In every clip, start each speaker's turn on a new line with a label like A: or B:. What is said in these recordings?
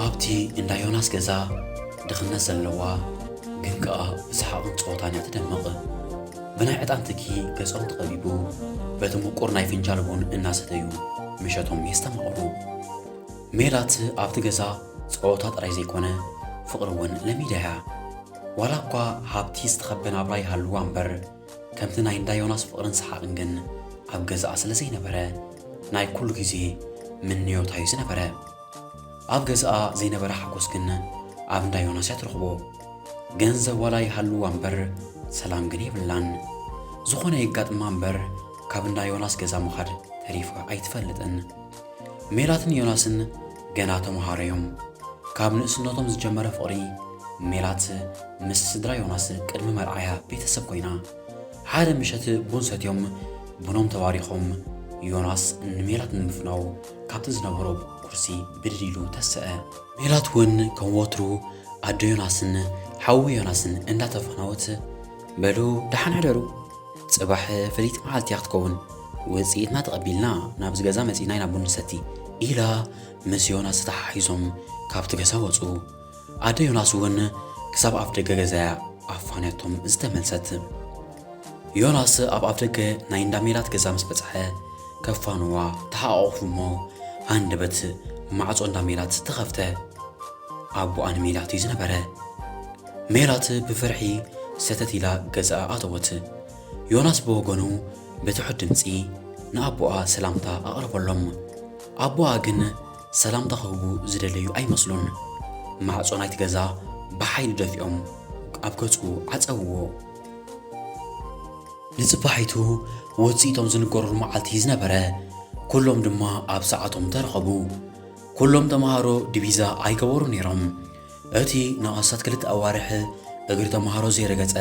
A: ኣብቲ እንዳ ዮናስ ገዛ ድኽነት ዘለዋ ግን ከኣ ብሰሓቕን ጸወታን እያ ትደምቕ። ብናይ ዕጣን ትኪ ገጾም ተኸቢቡ በቲ ምቁር ናይ ፍንጃል ቡን እናሰተዩ ምሸቶም የስተማቕሩ። ሜላት ኣብቲ ገዛ ጸወታ ጥራይ ዘይኮነ ፍቕሪ እውን ለሚዳ እያ። ዋላ እኳ ሃብቲ ዝተኸበ ናብራ ይሃልዋ እምበር፣ ከምቲ ናይ እንዳ ዮናስ ፍቕርን ሰሓቕን ግን ኣብ ገዛኣ ስለ ዘይነበረ ናይ ኩሉ ግዜ ምንዮታ እዩ ዝነበረ። ኣብ ገዛኣ ዘይነበረ ሓጎስ ግን ኣብ እንዳ ዮናስ እያ ትረኽቦ። ገንዘብ ዋላ ይሃልዋ እምበር ሰላም ግን የብላን። ዝኾነ የጋጥማ እምበር ካብ እንዳ ዮናስ ገዛ ምኻድ ተሪፋ ኣይትፈልጥን። ሜላትን ዮናስን ገና ተምሃሮ እዮም። ካብ ንእስነቶም ዝጀመረ ፍቕሪ ሜላት ምስ ስድራ ዮናስ ቅድሚ መርዓያ ቤተሰብ ኮይና። ሓደ ምሸት ቡን ሰትዮም ቡኖም ተባሪኾም ዮናስ ንሜላት ንምፍናው ካብቲ ዝነበሮ ኩርሲ ብድድ ኢሉ ተሰኣ። ሜላት እውን ከም ወትሩ ኣዶ ዮናስን ሓዉ ዮናስን እንዳተፋነወት በሉ ደሓን ሕደሩ ጽባሕ ፍልይቲ መዓልቲ እያ ክትከውን፣ ውጽኢትና ተቐቢልና ናብዚ ገዛ መጺእና ኢና ቡን ንሰቲ ኢላ ምስ ዮናስ ተተሓሒዞም ካብቲ ገዛ ወጹ። ኣደ ዮናስ እውን ክሳብ ኣፍደገ ገዛ እያ ኣፋንያቶም ዝተመልሰት። ዮናስ ኣብ ኣፍደገ ናይ እንዳ ሜላት ገዛ ምስ በጽሐ ከፋንዋ ተሓቛቑፉ እሞ ሃንደበት ማዕጾ እንዳ ሜላት ተኸፍተ። ኣቦኣ ንሜላት እዩ ዝነበረ። ሜላት ብፍርሒ ሰተት ኢላ ገዝኣ ኣተወት። ዮናስ ብወገኑ ብትሑት ድምጺ ንኣቦኣ ሰላምታ ኣቕረበሎም። ኣቦኣ ግን ሰላምታ ክህቡ ዝደለዩ ኣይመስሉን። ማዕጾ ናይቲ ገዛ ብሓይሊ ደፊኦም ኣብ ገጹ ዓጸውዎ። ንጽባሒቱ ውጽኢቶም ዝንገሩሉ መዓልቲ ዝነበረ፣ ኩሎም ድማ ኣብ ሰዓቶም ተረኸቡ። ኩሎም ተመሃሮ ዲቪዛ ኣይገበሩን ነይሮም። እቲ ንኣስታት ክልተ ኣዋርሕ እግሪ ተመሃሮ ዘይረገጸ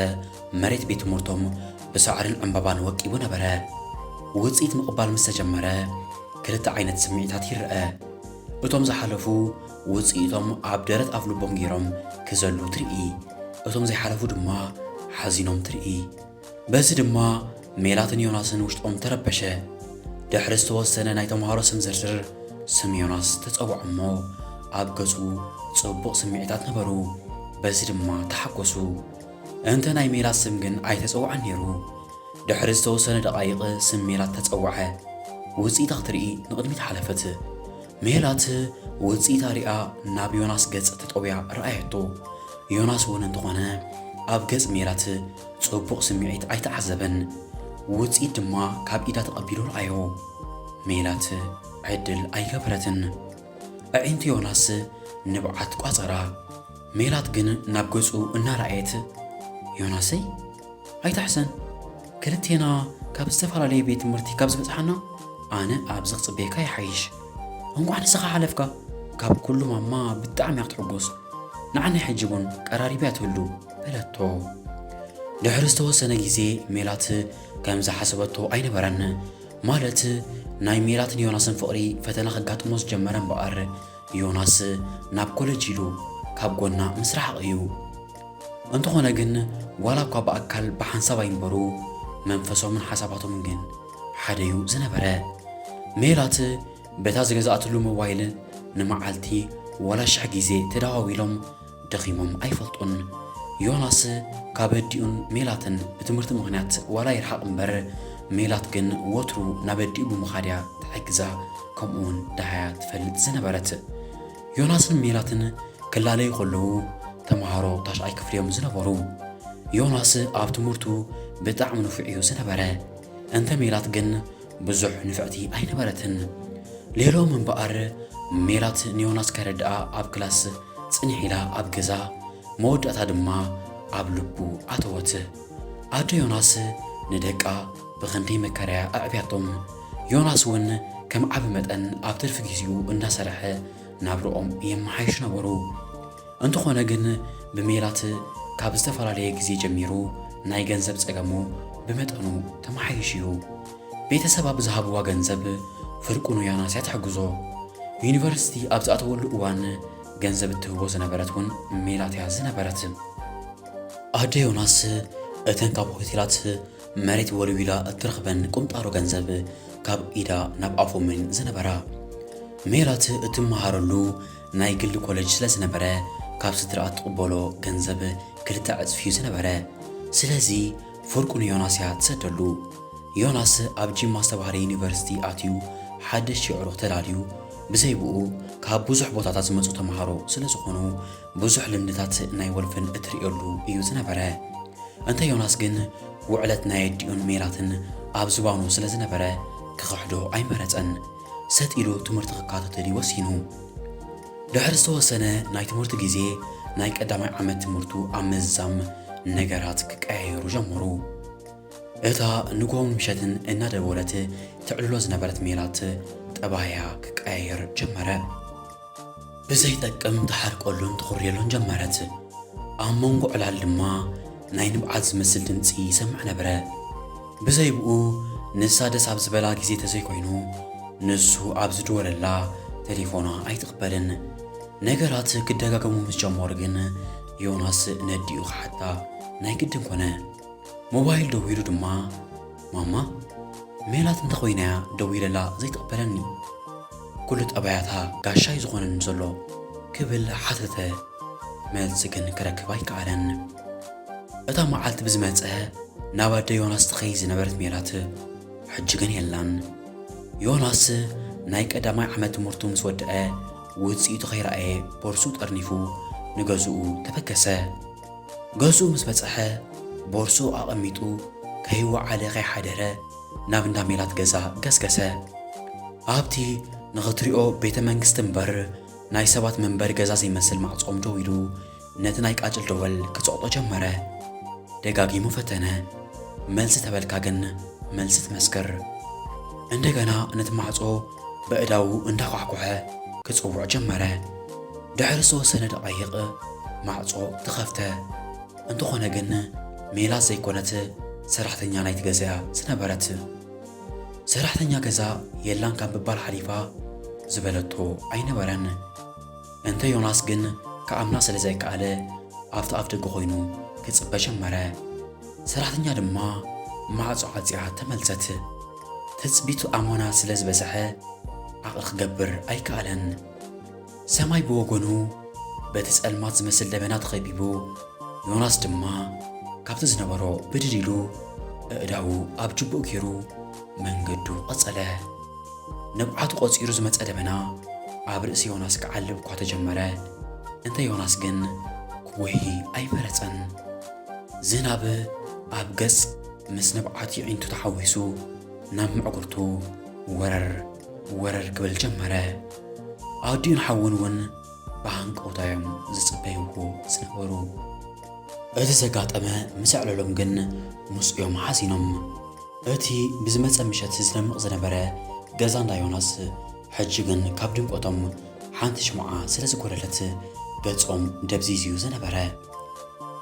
A: መሬት ቤት ትምህርቶም ብሳዕርን ዕምባባን ወቂቡ ነበረ። ውጽኢት ምቕባል ምስ ተጀመረ ክልተ ዓይነት ስምዒታት ይረኣ። እቶም ዝሓለፉ ውጽኢቶም ኣብ ደረት ኣፍ ልቦም ገይሮም ክዘሉ ትርኢ፣ እቶም ዘይሓለፉ ድማ ሓዚኖም ትርኢ። በዚ ድማ ሜላትን ዮናስን ውሽጦም ተረበሸ። ድሕሪ ዝተወሰነ ናይ ተምሃሮ ስም ዝርዝር ስም ዮናስ ተጸውዖ እሞ ኣብ ገጹ ጽቡቕ ስምዒታት ነበሩ። በዚ ድማ ተሓጎሱ። እንተ ናይ ሜላት ስም ግን ኣይተጸውዐን ነይሩ። ድሕሪ ዝተወሰነ ደቓይቕ ስም ሜላት ተጸውዐ። ውጽኢታ ክትርኢ ንቕድሚት ሓለፈት። ሜላት ውጽኢታ ሪኣ ናብ ዮናስ ገጽ ተጠውያ ረኣየቶ። ዮናስ እውን እንተኾነ ኣብ ገጽ ሜላት ጽቡቕ ስምዒት ኣይተዓዘበን፣ ውጽኢት ድማ ካብ ኢዳ ተቐቢሉ ረኣዮ። ሜላት ዕድል ኣይገበረትን። ኣዒንቲ ዮናስ ንብዓት ቋጸራ። ሜላት ግን ናብ ገጹ እናረኣየት ዮናሰይ ኣይታሕሰን ክልቴና ካብ ዝተፈላለየ ቤት ትምህርቲ ካብ ዝበጽሓና ኣነ ኣብዚ ክጽበየካ ይሓይሽ እንኳዕ ንስኻ ሓለፍካ ካብ ኩሉ ማማ ብጣዕሚ ክትሕጎስ ንዓኒ ሕጂ እውን ቀራሪብያ ትህሉ በለቶ። ድሕሪ ዝተወሰነ ግዜ ሜላት ከም ዝሓሰበቶ ኣይነበረን። ማለት ናይ ሜላትን ዮናስን ፍቕሪ ፈተና ከጋጥሞ ዝጀመረ እምበኣር ዮናስ ናብ ኮለጅ ኢሉ ካብ ጎና ምስ ረሓቐ እዩ። እንተኾነ ግን ዋላ እኳ ብኣካል ብሓንሳብ ኣይንበሩ መንፈሶምን ሓሳባቶምን ግን ሓደ እዩ ዝነበረ። ሜላት በታ ዝገዛእትሉ ሞባይል ንመዓልቲ ዋላ ሽሕ ግዜ ተደዋዊሎም ደኺሞም ኣይፈልጡን። ዮናስ ካብ ኣዲኡን ሜላትን ብትምህርቲ ምኽንያት ዋላ ይርሓቕ እምበር ሜላት ግን ወትሩ ናብ ኣዲኡ ብምኻድ እያ ትሕግዛ ከምኡ እውን ደሃያ ትፈልጥ ዝነበረት። ዮናስን ሜላትን ክላለዩ ከለዉ ተምሃሮ ታሽዓይ ክፍሊ እዮም ዝነበሩ። ዮናስ ኣብ ትምህርቱ ብጣዕሚ ንፉዕ እዩ ዝነበረ። እንተ ሜላት ግን ብዙሕ ንፍዕቲ ኣይነበረትን። ሌሎም እምበኣር ሜላት ንዮናስ ከረድኣ ኣብ ክላስ ጽንሕ ኢላ ኣብ ገዛ መወዳእታ ድማ ኣብ ልቡ ኣተወት። ኣደ ዮናስ ንደቃ ብኽንደይ መከራያ ኣዕብያቶም። ዮናስ እውን ከም ዓቢ መጠን ኣብ ትርፊ ግዜኡ እንዳሰርሐ ናብርኦም የመሓይሹ ነበሩ። እንተኾነ ግን ብሜላት ካብ ዝተፈላለየ ግዜ ጀሚሩ ናይ ገንዘብ ጸገሙ ብመጠኑ ተመሓይሹ እዩ። ቤተሰብ ኣብ ዝሃብዋ ገንዘብ ፍርቁ ንዮናስያ ትሕግዞ። ዩኒቨርሲቲ ኣብ ዝኣተወሉ እዋን ገንዘብ እትህቦ ዝነበረት እውን ሜላት እያ ዝነበረት። ኣደ ዮናስ እተን ካብ ሆቴላት መሬት ወልዊላ እትረኽበን ቁንጣሮ ገንዘብ ካብ ኢዳ ናብ ኣፎምን ዝነበራ ሜላት እትመሃረሉ ናይ ግሊ ኮለጅ ስለ ዝነበረ ካብ ስድርኣ እትቕበሎ ገንዘብ ክልተ ዕጽፊ እዩ ዝነበረ። ስለዚ ፍርቁ ንዮናስ እያ እትሰደሉ። ዮናስ ኣብ ጂማ ዝተባህለ ዩኒቨርሲቲ ኣትዩ ሓደሽቲ ኣዕሩኽ ተላልዩ፣ ብዘይ ብኡ ካብ ብዙሕ ቦታታት ዝመጹ ተማሃሮ ስለ ዝኾኑ ብዙሕ ልምድታት ናይ ወልፍን እትርእየሉ እዩ ዝነበረ። እንተ ዮናስ ግን ውዕለት ናይ ኣዲኡን ሜላትን ኣብ ዝባኑ ስለ ዝነበረ ክኽሕዶ ኣይመረጸን። ሰጥ ኢሉ ትምህርቲ ክካተተል እዩ ወሲኑ። ድሕሪ ዝተወሰነ ናይ ትምህርቲ ግዜ ናይ ቀዳማይ ዓመት ትምህርቱ ኣብ ምዝዛም ነገራት ክቀያየሩ ጀመሩ። እታ ንግሆን ምሸትን እናደወለት ተዕልሎ ዝነበረት ሜላት ጠባያ ክቀያየር ጀመረ። ብዘይጠቅም ትሓርቀሉን ትኹርየሉን ጀመረት። ኣብ መንጎ ዕላል ድማ ናይ ንብዓት ዝመስል ድምጺ ይሰምዕ ነበረ። ብዘይብኡ ንሳ ደስ ኣብ ዝበላ ግዜ ተዘይኮይኑ ንሱ ኣብ ዝድወለላ ተሌፎና ኣይትቕበልን። ነገራት ክደጋገሙ ምስ ጀመሩ ግን ዮናስ ነዲኡ ክሓታ ናይ ግድን ኮነ። ሞባይል ደዊሉ ድማ ማማ ሜላት እንተ ኾይና'ያ ደዊለላ ዘይትቕበለኒ? ኩሉ ጠባያታ ጋሻ'ዩ ዝኾነኒ ዘሎ? ክብል ሓተተ። መልሲ ግን ክረክብ ኣይከኣለን። እታ መዓልቲ ብዝመጸ ናብ ኣደ ዮናስ ትኸይድ ዝነበረት ሜላት ሕጂ ግን የላን። ዮናስ ናይ ቀዳማይ ዓመት ትምህርቱ ምስ ወድአ ውጽኢቱ ከይረኣየ ቦርስኡ ጠርኒፉ ንገዝኡ ተበገሰ። ገዝኡ ምስ በጽሐ ቦርስኡ ኣቐሚጡ ከይወዓለ ከይሓደረ ናብ እንዳ ሜላት ገዛ ገስገሰ። ኣብቲ ንኽትሪኦ ቤተ መንግስቲ እምበር ናይ ሰባት መንበሪ ገዛ ዘይመስል ማዕጾኦም ደው ኢሉ ነቲ ናይ ቃጭል ደወል ክጸቕጦ ጀመረ። ደጋጊሙ ፈተነ። መልሲ ተበልካ ግን መልሲ ትመስክር። እንደገና ነቲ ማዕጾ በእዳዉ እንዳኳሕኮሐ ክጽውዕ ጀመረ። ድሕሪ ዝተወሰነ ደቓይቕ ማዕጾ ተኸፍተ። እንተኾነ ግን ሜላት ዘይኮነት ሰራሕተኛ ናይቲ ገዛ'ያ ዝነበረት። ሰራሕተኛ ገዛ የላን ካብ ምባል ሓሊፋ ዝበለቶ ኣይነበረን። እንተ ዮናስ ግን ክኣምና ስለ ዘይከኣለ ኣብቲ ኣፍደገ ኮይኑ ክጽበ ጀመረ። ሰራሕተኛ ድማ ማዕጾ ዓጽያ ተመልሰት። ትጽቢቱ ኣሞና ስለ ዝበዝሐ ዓቕሊ ክገብር ኣይከኣለን። ሰማይ ብወገኑ በቲ ጸልማት ዝመስል ደበና ተኸቢቡ፣ ዮናስ ድማ ካብቲ ዝነበሮ ብድድ ኢሉ ኣእዳዉ ኣብ ጅብኡ ገይሩ መንገዱ ቐጸለ። ንብዓቱ ቖጺሩ ዝመጸ ደበና ኣብ ርእሲ ዮናስ ክዓልብ እኳ ተጀመረ፣ እንተ ዮናስ ግን ክጉሂ ኣይመረጸን። ዝናብ ኣብ ገጽ። ምስ ንብዓት ይዒንቱ ተሓዊሱ ናብ ምዕጉርቱ ወረር ወረር ክብል ጀመረ። ኣዲኡን ሓውን እውን ብሃንቀውታ እዮም ዝጽበይዎ ዝነበሩ። እቲ ዘጋጠመ ምስ ኣዕለሎም ግን ምስ እዮም ሓዚኖም። እቲ ብዝመጸ ምሸት ዝደምቕ ዝነበረ ገዛ እንዳ ዮናስ ሕጂ ግን ካብ ድምቀቶም ሓንቲ ሽምዓ ስለ ዝጎደለት ገጾም ደብዚዙ ዝነበረ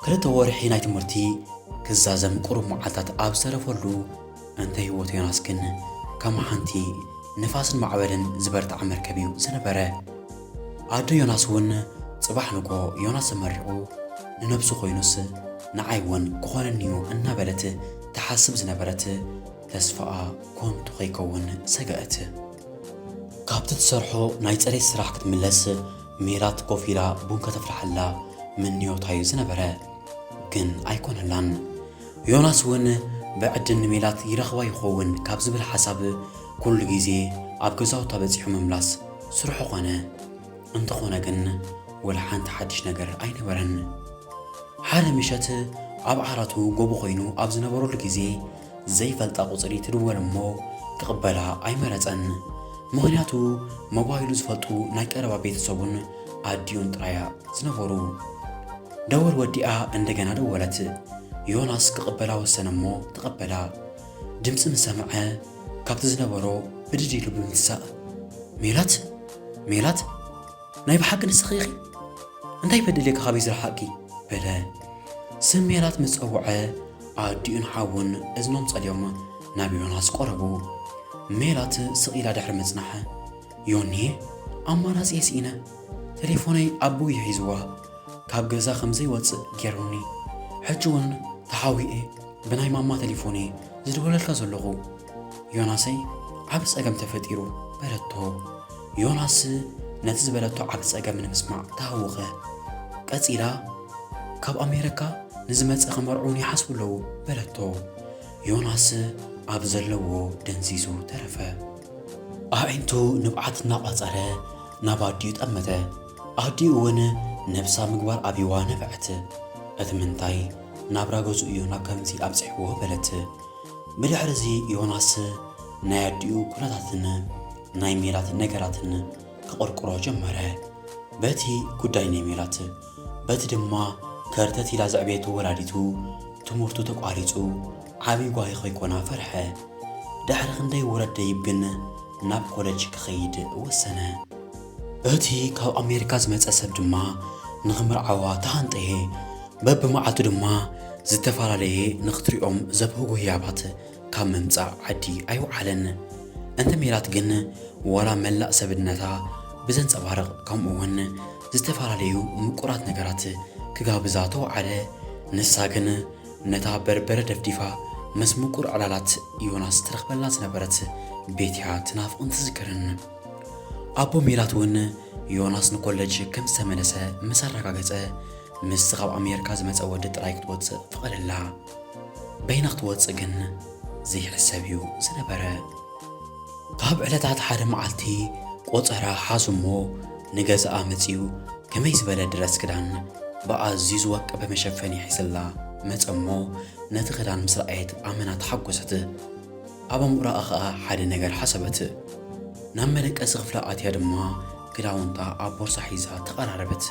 A: ክልተ ወርሒ ናይ ትምህርቲ ክዛዘም ቁሩብ መዓልታት ኣብ ዝተረፈሉ እንተ ህይወት ዮናስ ግን ከም ሓንቲ ንፋስን ማዕበልን ዝበርትዓ መርከብ እዩ ዝነበረ። ኣዶ ዮናስ እውን ጽባሕ ንጎ ዮናስ ተመሪቑ ንነብሱ ኮይኑስ ንዓይ እውን ክኾነኒ እዩ እናበለት ትሓስብ ዝነበረት ተስፋኣ ኮንቱ ከይከውን ሰገኣት። ካብቲ ትሰርሖ ናይ ፅሬት ስራሕ ክትምለስ ሜላት ኮፍ ኢላ ቡን ከተፍልሓላ ምንዮታዩ ዝነበረ ግን ኣይኮነላን። ዮናስ እውን ብዕድል ንሜላት ይረኽባ ይኸውን ካብ ዝብል ሓሳብ ኩሉ ግዜ ኣብ ገዛውታ በፂሑ ምምላስ ስርሑ ኮነ። እንተኾነ ግን ወላ ሓንቲ ሓድሽ ነገር ኣይነበረን። ሓደ ምሸት ኣብ ዓራቱ ጎቦ ኮይኑ ኣብ ዝነበረሉ ግዜ ዘይፈልጣ ቁጽሪ ትድወል እሞ ክቕበላ ኣይመረጸን። ምኽንያቱ ሞባይሉ ዝፈልጡ ናይ ቀረባ ቤተሰቡን ኣዲኡን ጥራያ ዝነበሩ። ደወል ወዲኣ እንደገና ደወለት። ዮናስ ክቕበላ ወሰነ እሞ ተቐበላ። ድምጺ ምስ ሰምዐ ካብቲ ዝነበሮ ብድድ ኢሉ ብምትሳእ ሜላት ሜላት ናይ ብሓቂ ንስኺ ኢኺ እንታይ በደልየ ካበይ ዝረሓቕኪ በለ። ስም ሜላት ምስ ጸውዐ ኣዲኡን ሓዉን እዝኖም ጸልዮም ናብ ዮናስ ቆረቡ። ሜላት ስቕ ኢላ ድሕሪ ምጽናሕ፣ ዮኒየ ኣማራጺ ስኢነ፣ ተሌፎነይ ኣቦይ ሒዝዋ ካብ ገዛ ከም ዘይወጽእ ጌሩኒ፣ ሕጂ ውን ተሓዊኤ ብናይ ማማ ተሌፎንየ ዝድውለልካ ዘለኹ። ዮናሰይ ዓብ ጸገም ተፈጢሩ በለቶ። ዮናስ ነቲ ዝበለቶ ዓብ ጸገም ንምስማዕ ተሃወኸ። ቀጺላ ካብ ኣሜረካ ንዝመጸ ክመርዑን ይሓስቡ ኣለዉ በለቶ። ዮናስ ኣብ ዘለዎ ደንዚዙ ተረፈ። ኣዒንቱ ንብዓት እናቋጸረ ናብ ኣዲኡ ጠመተ። ኣዲኡ እውን ነብሳ ምግባር ኣብይዋ ነብዐት። እቲ ምንታይ ናብራ ገዝኡ እዩ ናብ ከምዚ ኣብጺሕዎ በለት። ብድሕሪ እዚ ዮናስ ናይ ኣዲኡ ኩነታትን ናይ ሜላት ነገራትን ክቕርቅሮ ጀመረ። በቲ ጉዳይ ናይ ሜላት በቲ ድማ ከርተት ኢላ ዘዕበየቶ ወላዲቱ ትምህርቱ ተቋሪጹ ዓብዪ ጓሂ ከይኮና ፈርሐ። ድሕሪ ክንደይ ውረድ ደይብ ግን ናብ ኮለጅ ክኸይድ ወሰነ። እቲ ካብ ኣሜሪካ ዝመጸ ሰብ ድማ ንኽምርዓዋ ተሃንጠየ፣ በብመዓልቱ ድማ ዝተፈላለየ ንኽትሪኦም ዘብህጉ ህያባት ካብ ምምጻእ ዓዲ ኣይወዓለን። እንተ ሜላት ግን ዋላ መላእ ሰብነታ ብዘንጸባርቕ ከምኡ'ውን ዝተፈላለዩ ምቁራት ነገራት ክጋብዛ ተወዓለ፣ ንሳ ግን ነታ በርበረ ደፍዲፋ ምስ ምቁር ዕላላት ዮናስ ትረኽበላ ዝነበረት ቤት'ያ ትናፍቕን ትዝክርን። ኣቦ ሜላት'ውን ዮናስ ንኮለጅ ከም ዝተመለሰ ምስ ኣረጋገጸ፣ ምስቲ ካብ ኣሜርካ ዝመጸ ወዲ ጥራይ ክትወጽእ ፈቐደላ። በይና ክትወጽእ ግን ዘይሕሰብ'ዩ ዝነበረ። ካብ ዕለታት ሓደ መዓልቲ ቆጸራ ሓዙ'ሞ ንገዛኣ መጺኡ ከመይ ዝበለ ድረስ ክዳን ብኣዝዩ ዝወቀበ መሸፈኒ ሒዝላ መጸ'ሞ ነቲ ክዳን ምስ ረኣየት ኣመና ተሓጎሰት። ኣብ ኣእምሮኣ ኸኣ ሓደ ነገር ሓሰበት። ናብ መደቀሲ ኽፍላ ኣትያ ድማ ክዳውንታ ኣብ ቦርሳ ሒዛ ተቐራረበት።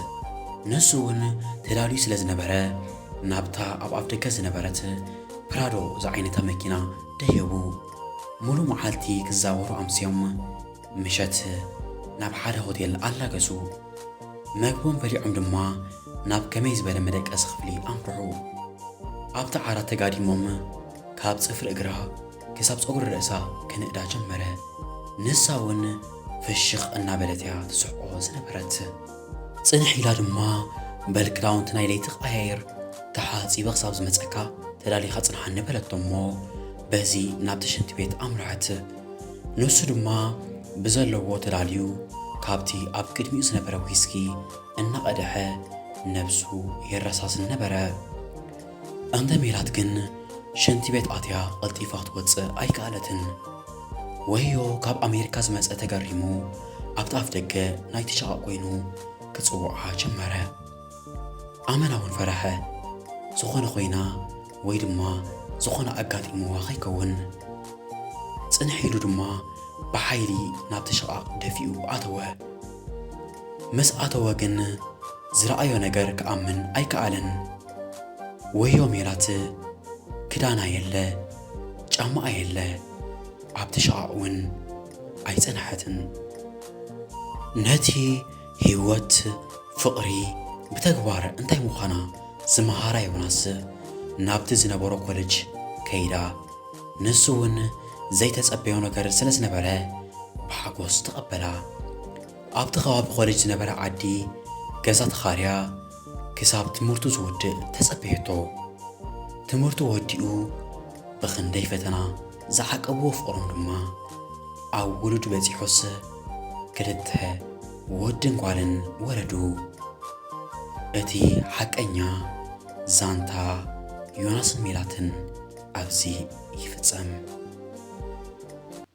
A: ንሱ እውን ተዳልዩ ስለ ዝነበረ ናብታ ኣብ ኣፍደገ ዝነበረት ፕራዶ ዝዓይነታ መኪና ደየቡ። ምሉእ መዓልቲ ክዛወሩ ኣምስዮም ምሸት ናብ ሓደ ሆቴል ኣላገሱ። መግቦም በሊዖም ድማ ናብ ከመይ ዝበለ መደቀሲ ኽፍሊ ኣምርሑ። ኣብቲ ዓራት ተጋዲሞም ካብ ጽፍሪ እግራ ክሳብ ጸጉሪ ርእሳ ክንእዳ ጀመረ። ንሳ እውን ፍሽኽ እናበለት እያ ትስሕቆ ዝነበረት። ጽንሕ ኢላ ድማ በል ክዳውንቲ ናይ ለይቲ ቀያይር፣ ተሓጺበ ክሳብ ዝመጸካ ተዳሊኻ ጽንሓኒ በለቶ እሞ በዚ ናብቲ ሽንቲ ቤት ኣምርሐት። ንሱ ድማ ብዘለዎ ተዳልዩ ካብቲ ኣብ ቅድሚኡ ዝነበረ ዊስኪ እናቐደሐ ነብሱ የረሳስን ነበረ። እንተ ሜላት ግን ሸንቲ ቤት ኣትያ ቐልጢፋ ትወጽእ ኣይከኣለትን። ወዮ ካብ ኣሜሪካ ዝመጸ ተገሪሙ ኣብቲ ኣፍ ደገ ናይቲ ሸቓቕ ኮይኑ ክጽውዓ ጀመረ። ኣመና እውን ፈረሐ። ዝኾነ ኮይና ወይ ድማ ዝኾነ ኣጋጢምዋ ከይከውን። ጽንሕ ኢሉ ድማ ብሓይሊ ናብቲ ሸቓቕ ደፊኡ ኣተወ። ምስ ኣተወ ግን ዝረኣዮ ነገር ክኣምን ኣይከኣለን። ወዮ ሜላት ክዳና የለ ጫማኣ የለ ኣብቲ ሸቓቕ እውን ኣይጸንሐትን። ነቲ ህይወት ፍቕሪ ብተግባር እንታይ ምዃና ዝመሃራ ዮናስ ናብቲ ዝነበሮ ኮለጅ ከይዳ ንሱ እውን ዘይተጸበዮ ነገር ስለ ዝነበረ ብሓጎስ ተቐበላ። ኣብቲ ከባቢ ኮለጅ ዝነበረ ዓዲ ገዛ ተኻርያ ክሳብ ትምህርቱ ዝውድእ ተጸበየቶ። ትምህርቱ ወዲኡ ብኽንደይ ፈተና ዝዓቀብዎ ፍቕሮም ድማ ኣብ ውሉድ በጺሑስ ክልተ ወድን ጓልን ወለዱ። እቲ ሓቀኛ ዛንታ ዮናስን ሜላትን ኣብዚ ይፍጸም።